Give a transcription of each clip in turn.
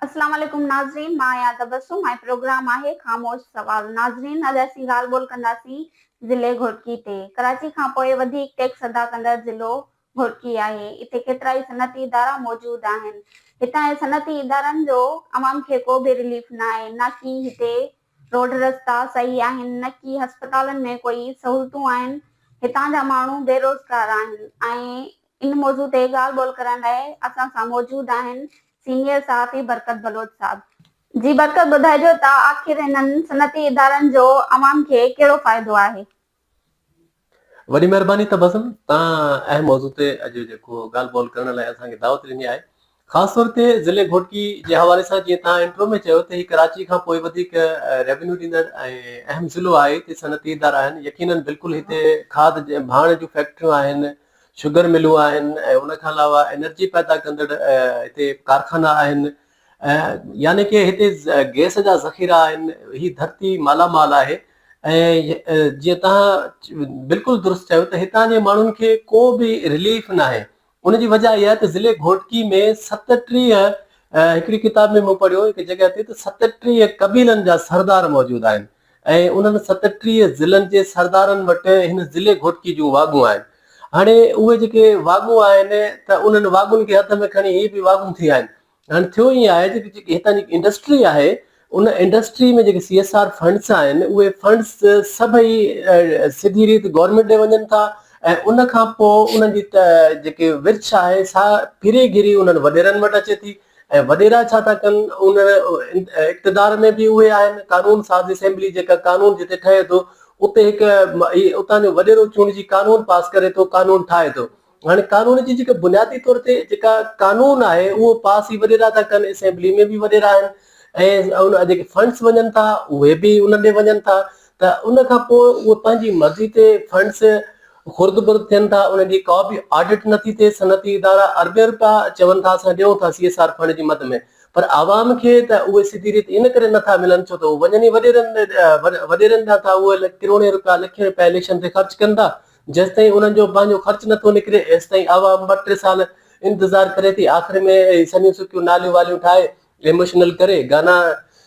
اسلام عليڪم ناظرين مان آهيان تبسم ۽ پروگرام آهي خاموش سوال ناظرين اڄ اسين ڳالهه ٻولهه ڪنداسين ضلعي گهوٽڪي تي ڪراچي کان پوء وڌيڪ ٽيڪس ادا ڪندڙ ضلعو گهوٽڪي آهي اتي ڪيترائي صنعتي ادارا موجود آهن هتان جي صنعتي ادارن جو عوام کي ڪو به رليف ناهي نه ڪي هتي روڊ رستا صحيح آهن نه ڪي هسپتالن ۾ ڪوئي سهولتون آهن هتان جا ماڻهو بيروزگار آهن ۽ ان موضوع تي ڳالهه ٻولهه ڪرڻ لاء اسان سان موجود آهن سينيئر صحافي برڪت بلوچ صاحب. جي برڪت ٻڌائجو ته آخر انهن صنعتي ادارن جو عوام کي ڪهڙو فائدو آهي؟ وڏي مهرباني تبسم تان اهم موضوع تي اڄ جيڪو ڳالهه ٻولهه ڪرڻ لاء اسان کي دعوت ڏني آهي خاص طور تي ضلعي گهوٽڪي جي حوالي سان جيئن توهان انٽرو ۾ چيو ته هي ڪراچي کان پوء وڌيڪ ريونيو ڏيندڙ ۽ اهم ضلعو آهي هتي صنعتي ادارا آهن يقينن بلڪل هتي کاڌ ڀاڻ جون فيڪٽريون آهن شگر ملون آهن ۽ ان کان علاوه انرجي پيدا ڪندڙ هتي ڪارخانا آهن يعني ڪي هتي گيس جا ذخيرا آهن هي ڌرتي مالا مال آهي ۽ جيئن توهان بلڪل درست چيو ته هتان جي ماڻهن کي ڪو به رليف ناهي ان جي وجهه اها ته ضلعي گهوٽڪي ۾ ستٽيهه هڪڙي ڪتاب ۾ مون پڙهيو هڪ جڳهه تي ته ستٽيهه قبيلن جا سردار موجود آهن ۽ انهن ستٽيهه ضلعن جي سردارن وٽ هن ضلعي گهوٽڪي جون واڳون آهن هاڻي اهي جيڪي واڳون آهن ته انهن واڳن کي هٿ ۾ کڻي هي به واڳون ٿي آهن هاڻي ٿيو ائين آهي ته جيڪي هتان جي انڊسٽري آهي ان انڊسٽري ۾ جيڪي سي ايس آر فنڊس آهن اهي فنڊس سڀئي سڌي ريت گورنمينٽ ڏي وڃن ٿا ۽ ان کان پوء انهن جي جيڪي ورڇ آهي سا ڦري گهري انهن وڏيرن وٽ اچي ٿي ۽ وڏيرا ڇا ٿا ڪن ان اقتدار ۾ به اهي آهن قانون ساز اسيمبلي جيڪا قانون جتي ٺهي ٿو اتي هڪ اتان جو وڏيرو چونڊجي قانون پاس ڪري ٿو قانون ٺاهي ٿو هاڻي قانون جي جيڪا بنيادي طور تي جيڪا قانون آهي اهو پاس هي وڏيرا ٿا ڪن اسيمبلي ۾ به وڏيرا آهن ۽ ان جيڪي فنڊس وڃن ٿا اهي به ان ڏي وڃن ٿا ته ان کان پوء اهي پنهنجي مرضي تي فنڊس خورد برد ٿين ٿا انهن جي ڪا به آڊٽ نٿي ٿئي صنعتي ادارا اربين روپيا چون ٿا اسان ڏيون ٿا سي ايس آر فنڊ جي مد ۾ پر عوام کي ته اهي سڌي ريت ان ڪري نٿا ملن ڇو ته هو وڃن ئي وڏيرن وڏيرن ڏانهن ٿا اهي ڪروڙين روپيا لکين روپيا اليڪشن تي خرچ ڪن ٿا جيستائين انهن جو پنهنجو خرچ نٿو نڪري ايستائين عوام ٻه ٽي سال انتظار ڪري ٿي آخر ۾ هي سنيون سڪيون ناليون واليون ٺاهي ايموشنل ڪري گانا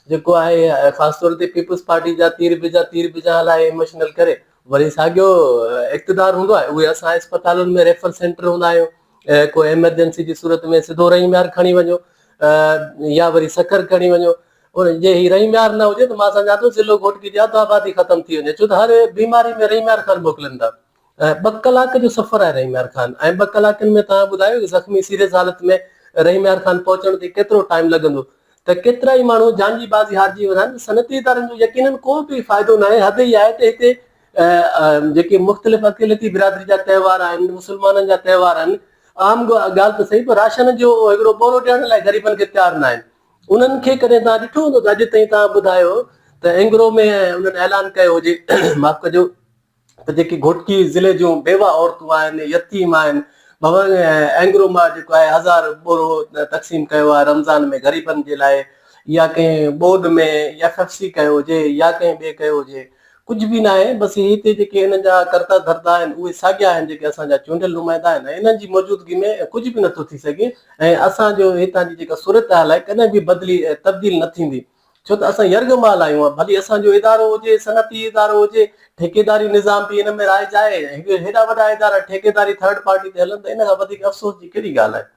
جيڪو آهي خاص طور تي پيپلز پارٽي جا تير به جا تير به جا هلائي ايموشنل ڪري وري ساڳيو اقتدار هوندو آهي اهي اسان اسپتالن ۾ ريفر سينٽر هوندا آهيون ڪو ايمرجنسي جي صورت ۾ سڌو رحيم يار کڻي وڃو يا وري سکر کڻي وڃو هن جي هي رحيم يار نه هجي ته مان سمجهان ٿو ضلعو گهوٽڪي جي اڌ آبادي ختم ٿي وڃي ڇو ته هر بيماري ۾ رحيم يار خان موڪلين ٿا ۽ ٻه ڪلاڪ جو سفر آهي رحيم يار خان ۽ ٻه ڪلاڪن ۾ توهان ٻڌايو ته زخمي سيريس حالت ۾ رحيم يار خان پهچڻ تي ڪيترو ٽائيم لڳندو ته ڪيترا ئي ماڻهو جان جي بازي هارجي ويندا آهن صنعتي ادارن جو يقينن ڪو به فائدو ناهي حد هي آهي ته هتي جيڪي مختلف اقليتي برادري جا تهوار آهن مسلمانن جا تهوار آهن عام ڳالهه ته سهي پر راشن جو هڪڙو ٻورو ڏيڻ لاء غريبن کي تيار ناهن انهن کي ڪڏهن توهان ڏٺو هوندو ته اڄ تائين توهان ٻڌايو ته اينگرو ۾ انهن اعلان ڪيو هجي معاف ڪجو ته جيڪي گهوٽڪي ضلعي جون بيواهه عورتون آهن، يتيم آهن، ڀونء اينگرو مان جيڪو آهي هزار ٻورو تقسيم ڪيو آهي رمضان ۾ غريبن جي لاء يا ڪنهن ٻوڏ ۾ ايف ايف سي ڪيو هجي يا ڪنهن ٻئي ڪيو هجي، ڪجهه به ناهي، بس هي هتي جيڪي هنن جا ڪرتا ڌرتا آهن، اهي ساڳيا آهن جيڪي اسان جا چونڊيل نمائندا آهن ۽ انهن جي موجودگي ۾ ڪجهه به نٿو ٿي سگهي ۽ اسان جو هتان جي جيڪا صورتحال آهي ڪڏهن به بدلي ۽ تبديل نه ٿيندي ڇو ته اسان يرغمال آهيون ڀلي اسان جو ادارو هجي صنعتي ادارو هجي ٺيڪيداري نظام به ان ۾ رائج آهي هيڏا وڏا ادارا ٺيڪيداري ٿرڊ پارٽي تي هلن ته ان کان وڌيڪ افسوس جي ڪهڙي ڳالهه آهي.